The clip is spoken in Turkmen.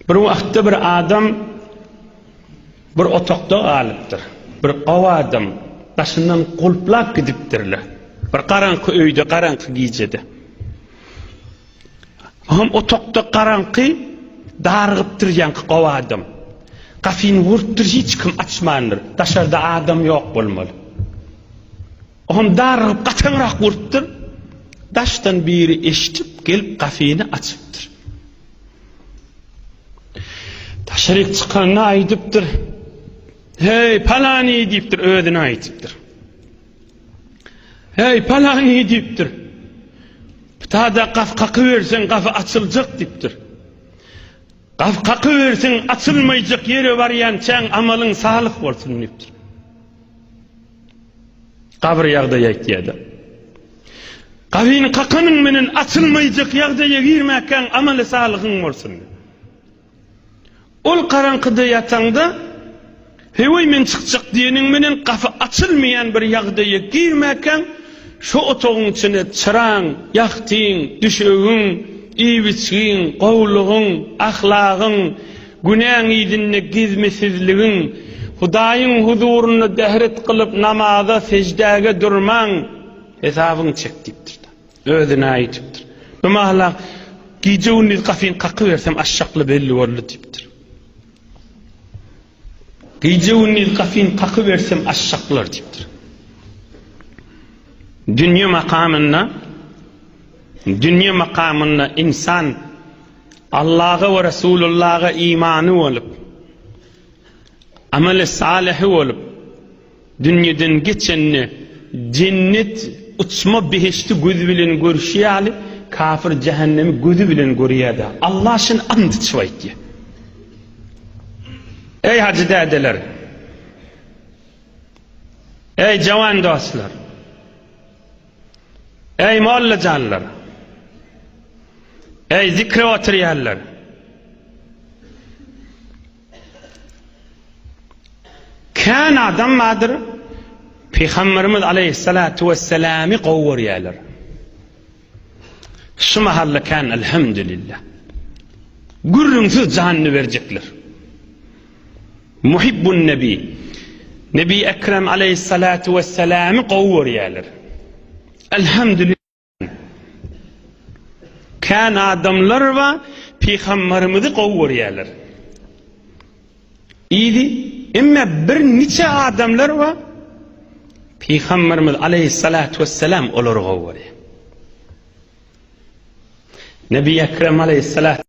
Bir wagtda bir adam bir otokda galypdyr. Bir gowy adam daşyndan gulplap gidipdirle. Bir garaňky öýde, garaňky gijede. Hom otokda garaňky dargypdyr ýanky gowy adam. Gafyny wurtdyr hiç kim açmandyr. Daşarda adam ýok bolmaly. Oňam darrygyp gataňrak urupdyr. Daşdan biri eşidip, gelip gafyny açypdyr. Daşaryk çykanda aýdypdyr. Heý, palany diýipdir, özüne aýdypdyr. Heý, palany diýipdir. Tada gaf kaky bersen gafy açyljak dipdir. Gaf kaky bersen açylmayacak yere varyan çen amalın sağlık olsun dipdir. Gabyr ýagdaýy aýtýar-da. Gabyny kakanyň menen açylmaýjak ýagdaýa girmäkäň amaly salyhyň bolsun. Ol garaňkyda ýataňda, Heý-oý men çykjak diýeniň menen gapy açylmaýan bir ýagdaýa girmäkäň, şo otagyň içine çyraň, ýahtyň, düşegiň, iýip-içgiň, gowulygyň, ahlagyň, Günäň yzynda gizmisizligiň. Hudaýyň huzurynda bähret kylyp, namaza, seždäge durmaň. Hesabyňy çek diýipdir. Özüne aýdypdyr. Bu mahala gije-gündiz gapyny kakybersem, açjakly belli boldy diýipdir. Gije-gündiz gapyny kakybersem, açjaklar diýipdir. Dünýe makamynda, dünýe makamynda insan Allaha we Resulullaha imany bolup, amali salyhy bolup, dünýeden geçende jennet uçma behişdi gözi bilen görşi ýaly kafir jähennemi gözi bilen görýär-de. Allah şun and içip aýtýar. Eý hajy dädeler! Eý jawan dostlar! Eý, mollajanlar! Eý, zikre oturýanlar! Kän adam bardyr, Pygamberimiz aleýhissalatu wesselamy gowy görýärler. Şu mahalla kän elhamdülillah. Gürrüňsiz janyny berjekler. Muhibbun Nebi, Nebi Ekrem aleýhissalatu wessalamy gowy görýärler. Elhamdülillah. Kän adamlar ba Pygamberimizi gowy görýärler. Idi, emme bir niçe adamlar ba Pygamberimiz aleýhissalatu wessalam olary gowy görýär. Nebi Ekrem aleýhissalatu